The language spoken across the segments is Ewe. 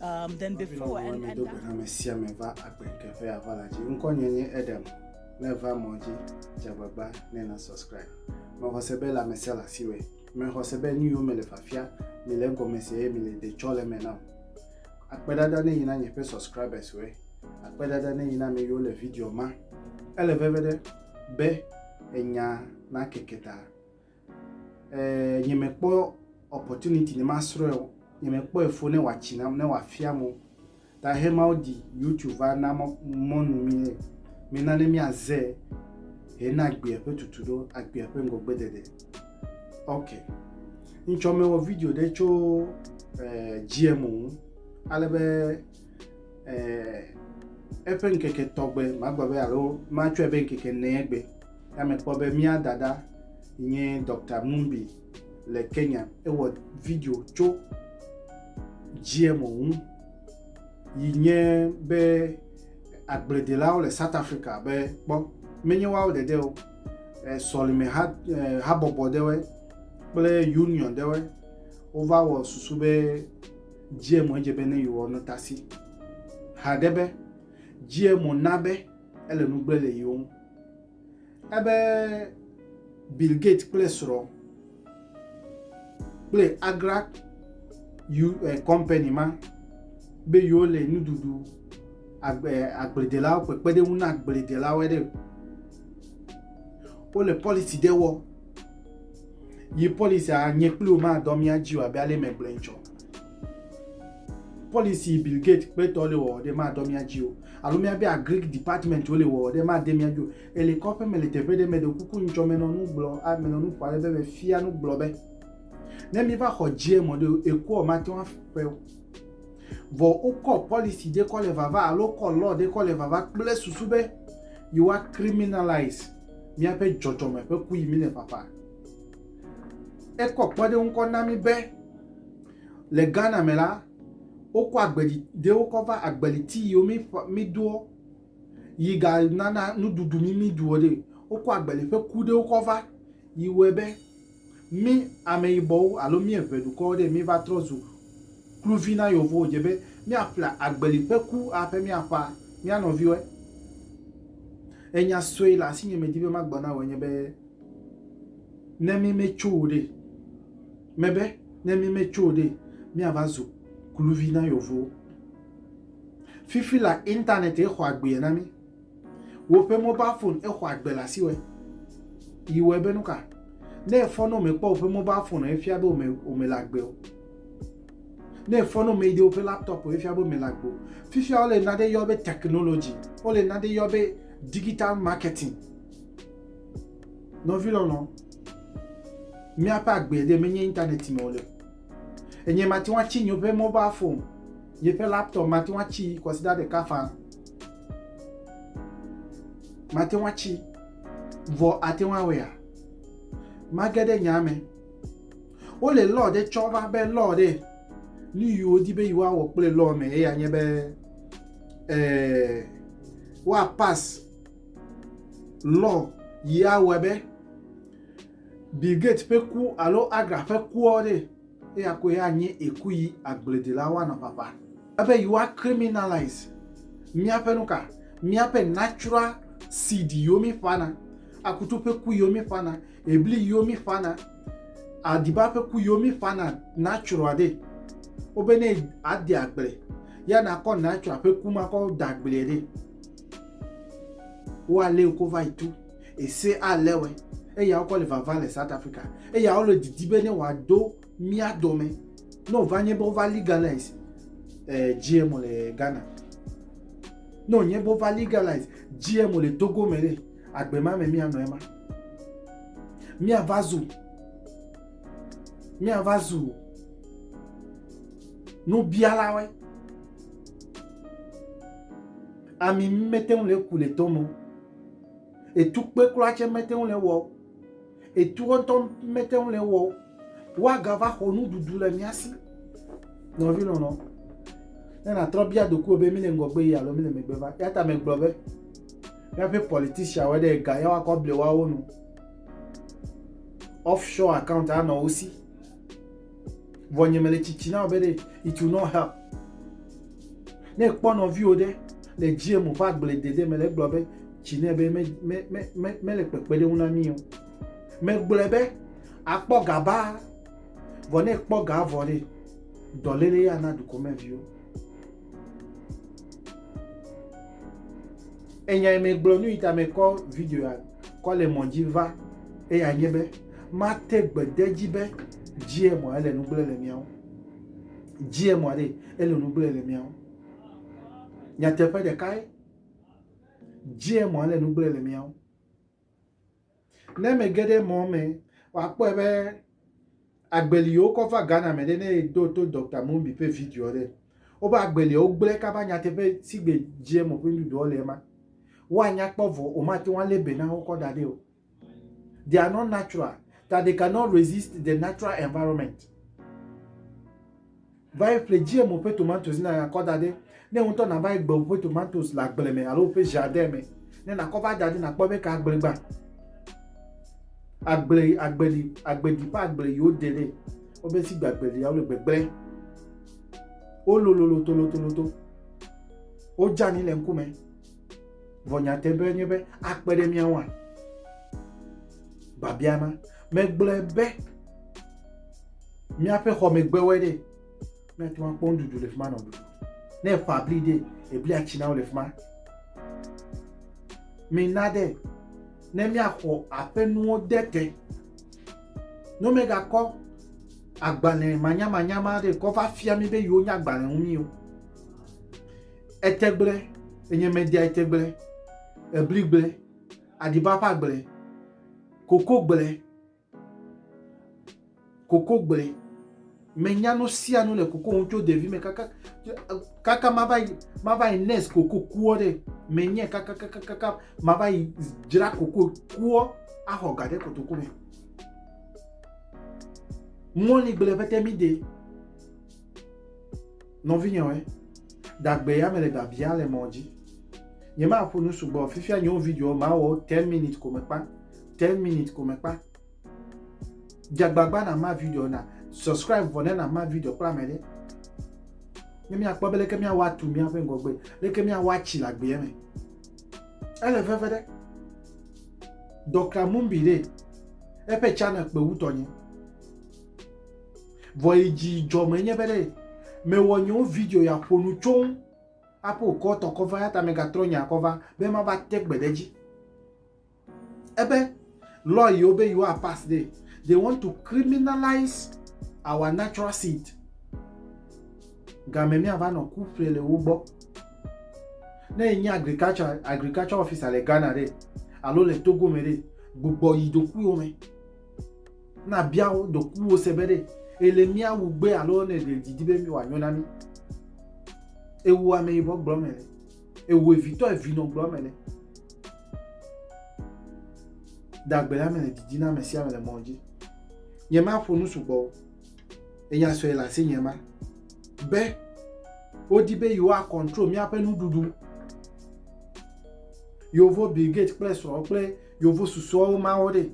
Um, then before and, and that... ame sia ame va agbe teƒe ava la dzi ŋkɔ nye nye edem ne va mɔ dzi dzagbagba ne na subscribe mexɔse be la mesia le asi wɛ mexɔse be nu yiwo mele fafia mele egɔme se eye mele de tsɔ le me nam akpedada ne yina nye ƒe subscribers wɛ akpedada ne yina ame yiwo le video ma ele veve ɖe be enya na keke ta Eee, nyemekpɔ opportunity ne masrɔ̃e o. Nyemekpɔe fo ne wòatsi nam, ne wòafiam o. Ta hemawo ɖi YouTube va na mɔ, mɔnu mí nɛ. Mena ne míaze hena agbea ƒe tutu ɖo, agbea ƒe ŋgɔgbeɖeɖe. Ok. Ŋtsɔ mewɔ video ɖe tso eh, GMO ŋu. Ale be eh, eƒe ŋkeke tɔgbe, magblɔ be alo matsɔe be ŋkeke enea gbe. Ya mekpɔ be mía dada nye Dr. Mumbi le Kenya. Ewɔ video tso GMO ŋu yi nye be agbledelawo le South Africa be kpɔ menye woawo dede o eh, sɔlime ha, eh, habɔbɔ ɖewe kple union ɖewe wova wɔ susu be GMO edze be ne yewoa no tasi haɖe be GMO na be ele nugble le yewo ŋu. Ebe Bill Gates kple srɔ̃ kple Agra yu eh, company ma be yewo le nuɖuɖu agbe agbledelawo ƒe kpeɖeŋu na agbledelawo ɖe wole policy ɖe wɔ yi policy a nye kpli woma dɔ mía dzi o abe ale megblɔe tsɔ policy Bill Gates kpetɔ le wɔ ɖe ma dɔ mía dzi o alo míabe agric department wole wɔwɔ ɖe made mía dzi o. Ele kɔƒe me le teƒe ɖe me ɖe kuku ŋtsɔ menɔnu gblɔ a menɔnu ƒo ale be mefia nu gblɔ be ne míva xɔ GM ɖe o ekuɔ mate ŋu aƒe o. Vɔ wokɔ policy ɖe kɔ le vava alo wokɔ law ɖe kɔ le vava kple susu be yewoa criminalize míaƒe dzɔdzɔme ƒe ku yi mi le ƒaƒa. Ekɔ kpɔɖeŋu kɔ na mi be le Ghana me la, wokɔ agbeli ɖe wokɔ va agbeli ti yiwo mi ƒe mi doɔ yi ga nana nuɖuɖu mi mi ɖuɔ ɖe wokɔ agbeli ƒe ku ɖe wokɔ va yi wɔe be mi ameyibɔwo alo mi eŋɛ dukɔwo ɖe mi va trɔ zu kluvi na yevuwo dze be mi aƒle agbeli ƒe ku a ƒe mi aƒa mia nɔviwɔe enya sue le asi nye me di be ma gblɔ na wɔ nye be ne mi me tso wo ɖe. Mebe, ne mímetso ɖe, míava zu kluvi na yevuwo. Fifi la internet ye xɔ agbeɛ na mí. Woƒe mobile phone ye xɔ agbe le asiwɛ. Yi wɔe be nuka? Ne efɔ ne womekpɔ woƒe mobile phone efia be wome wome le agbe o. Ne efɔ ne womeyi ɖe woƒe laptop efia be wome le agbe o. Fifia wole naɖe yɔ be technology. Wole naɖe yɔ be digital marketing. Nɔvi lɔlɔ, Míaƒe agbee ɖe menye internet me o le. Enye mate ŋu atsi nye ƒe mobile phone, nye ƒe laptop mate ŋu atsi kɔsiɖa ɖeka faa. Mate ŋu atsi vɔ ate ŋu awɔea? Mage ɖe nyaa me. Wole law ɖe tsɔ va be law ɖe nu yi wodi be yewoawɔ kple law me eya nye be ee, eh, woapas Lɔ yi awɔe be Bill Gates ƒe ku alo Agra ƒe kuɔ ɖe, eya koe anye eku yi agbledelawo anɔ ƒaƒa. Ebe yewoa criminalize míaƒe nuka? Míaƒe natural seed yiwo mí ƒana, akutu ƒe ku yiwo mí ƒana, ebli yiwo mí ƒana, aɖiba ƒe ku yiwo mí ƒana natural ɖe. Wobe ne ade agble ya nakɔ natural ƒe ku ma kɔ da agble ɖe. Wo a léo ko va yi tu ese a lé wɛ. Eya wo kɔ le vava le South Africa. Eya wo le didi be ne wa do mia dɔme. Ne o va nye be wo va legalize eh, GMO le Ghana. Ne o nye be wo va legalize GMO le Togo me le agbe ma me mia nɔ ema. Mia va zu. Mia va zu. Nubialawe. Ami mete ŋu le ku le tɔ me o. Etukpe kura tsɛ mete ŋu le ewɔ o. Etuwo ŋutɔ mete ŋu le ewɔ o. Woagava xɔ nuɖuɖu le mía si. Nɔvi lɔlɔ, ne nàtrɔ bia ɖokuiwò be míle ŋgɔgbe yia alo míle megbe va? Eya ta megblɔ be míaƒe politicianwo ɖe ega ya woakɔ able woawo nu. Off shore account anɔ wo si. Vɔ nye mele tsitsi na be ɖe it will not help. Ne ekpɔ nɔviwo ɖe le GM ƒe agbledede me le egblɔ be tsi ne be me me me me mele kpekpeɖeŋu na mí o. Megblɔe be akpɔ ga ba vɔ ne ekpɔ ga vɔ ɖe dɔléle ya na dukɔmeviwo. Enyae megblɔ nu yi ta mekɔ video ya kɔ le mɔ dzi va eya nye be mate gbe de edzi be GMO ele nu gblẽ le mía ŋu. GMO aɖe ele nu gblẽ le mía ŋu. Nyateƒe ɖekae GMO ele nu gblẽ le mía ŋu. Ne ame ge ɖe mɔ me, wòakpɔe be agbe li wokɔ va Ghana me ɖe ne eɖo to Dɔkta Mumbi ƒe video ɖe. Woƒe agbe lia wogblẽ kaba nyateƒe si gbe dzi eme ƒe nuɖuɖuawo le ema. Woanya kpɔ vɔ womate ŋu alé be na wo kɔ da ɖi o. They are not natural that they cannot resist the natural environment. Va yi ƒle GMO ƒe tomatosi ne nàkɔ da ɖɛ. Ne wò ŋutɔ nàva yi gbe woƒe tomatosi le agble me alo woƒe ʒardɛn me ne nàkɔ va da ɖi nàkpɔ be ke agble gbã. Agble, agbeli, agbedi ƒe agble yi wode ɖɛ. Wobe si gbe agbelia, wole gbegblẽ. Wolololo tolotoloto. Wodzani le ŋkume. Vɔ nyateƒe nye be akpe ɖe mía ŋua? Biabia ma. Megblɔe be míaƒe xɔmegbewoe ɖe míate ŋu akpɔ nuɖuɖu le fi ma nɔ ɖuɖu. Ne eƒa bli ɖe, eblia tsi na wo le fi ma. Mina ɖe ne míaxɔ aƒenuwo de te. Ne megakɔ agbalẽ manyamanya ma ɖe kɔ va fia mí be yewo nya agbalẽ ŋu mí o. Etegble, enyemedea etegble, ebligble, aɖibabagble, kokogble, kokogble. Menya nu sia nu le koko ŋu tso ɖevime kaka kaka mava yi mava yi nes koko kuɔ ɖe menye kaka kaka kaka mava yi dzra koko kuɔ axɔ ga ɖe kotoku me. Mɔligble ƒete mi de. Nɔvinyɔe, dagbe ya mele biabia le mɔ dzi. Nyemaƒo nu sugbɔ, fifia nyewo video mawɔ 10 minutes ko mekpa, 10 minutes ko mekpa. Dzagbagba na ma video na subscribe vɔ ne na ma video kpla me ɖe. Ne miakpɔ be leke miawɔ atu miaƒe ŋgɔgbe, leke miawɔ atsi le agbea me. Ele veve ɖe. Dɔkta Mumbi ɖe eƒe channel kpe wutɔ nye. Vɔ yi dzi dzɔ me nye be ɖe me wɔ nyewo video ya ƒo nu tso ŋu aƒe okɔ tɔ kɔ va ya ta me ga trɔ nya kɔ va be ma va te gbe ɖe dzi. Ebe law yi wo be yi wa pass de they want to criminalize our natural seed. Game mi ava nɔ ku ƒle le wo gbɔ. Ne yi nye agriculture agriculture officer le Ghana de alo le Togo me de gbugbɔ yi do ku yo me. Na bia wo ɖokuiwo se be ɖe ele mía wu gbe alo ne ɖe didi be mi wòanyo na mi. Ewu ame yibɔ gblɔ me le. Ewu evitɔ evinɔ gblɔ me le. Dagbe la me le didi na ame sia ame le mɔ dzi. Nye ma ƒo nu sugbɔ o. Enya sɔe le asi nye ma. Be wodi be yewoa control míaƒe nuɖuɖu. Yewo Bill Gates kple srɔ̃ kple Yewo susuawo mawo ɖe.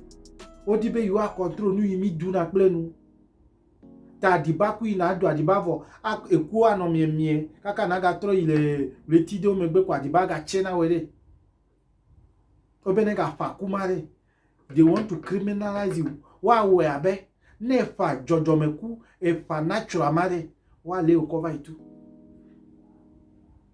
Wodi be yewoa control nu yi mi duna kple nu. Ta aɖiba ku yi na do aɖiba vɔ eku anɔ miemie kaka na ga trɔ yi le ɣleti ɖewo megbe ko aɖiba ga tse na wɔ ɖe. Wobe ne ga ƒa kuma ɖe. They want to criminalize you. Wa wɔ abe ne eƒa dzɔdzɔme ku eƒa natural ma ɖe wa le wokɔ va yi tu.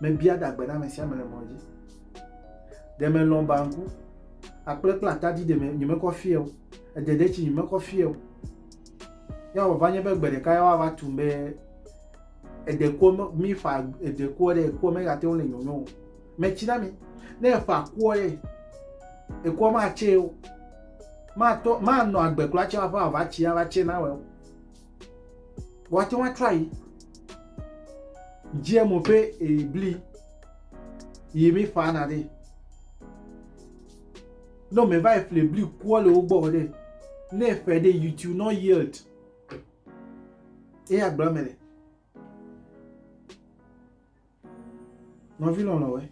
mebia ɖa gbe na ame sia ame le mɔ dzi. Ɖe melɔ̃ banku, akple kple atadi ɖe me nyemekɔ fia o, edeɖetsi nyemekɔ fia o. Ya wòva nye be gbe ɖeka ya woava tum be edekua mi ƒa edekua ɖe ekua megate ŋu le nyɔnyɔ o. Metsi na mi. Ne eƒa kua ɖe ekua matse o. Matɔ manɔ agbe kura tse aƒe ava tsi ava tse na wɔ o. Woate ŋu atrɔ ayi GMO ƒe ebli yi mi ƒana ɖe. Ne ame va yi ƒle bli kua le wo gbɔ ɖe, ne eƒe ɖe you to not yield. Eya gblɔ me le. Nɔvi lɔlɔ̃we,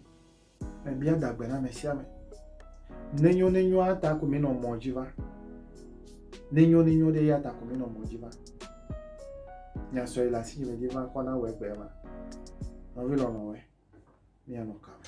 mebia dagbe na ame sia ame. Nenyo nenyoa ta ko menɔ mɔ dzi va. Nenyo nenyo ɖe ya ta ko menɔ mɔ dzi va. Nyasɔ yi le asi dzi medzi va kɔ na wɔ egbe ma. Nɔvi lɔlɔ̃we, mianɔ ka me?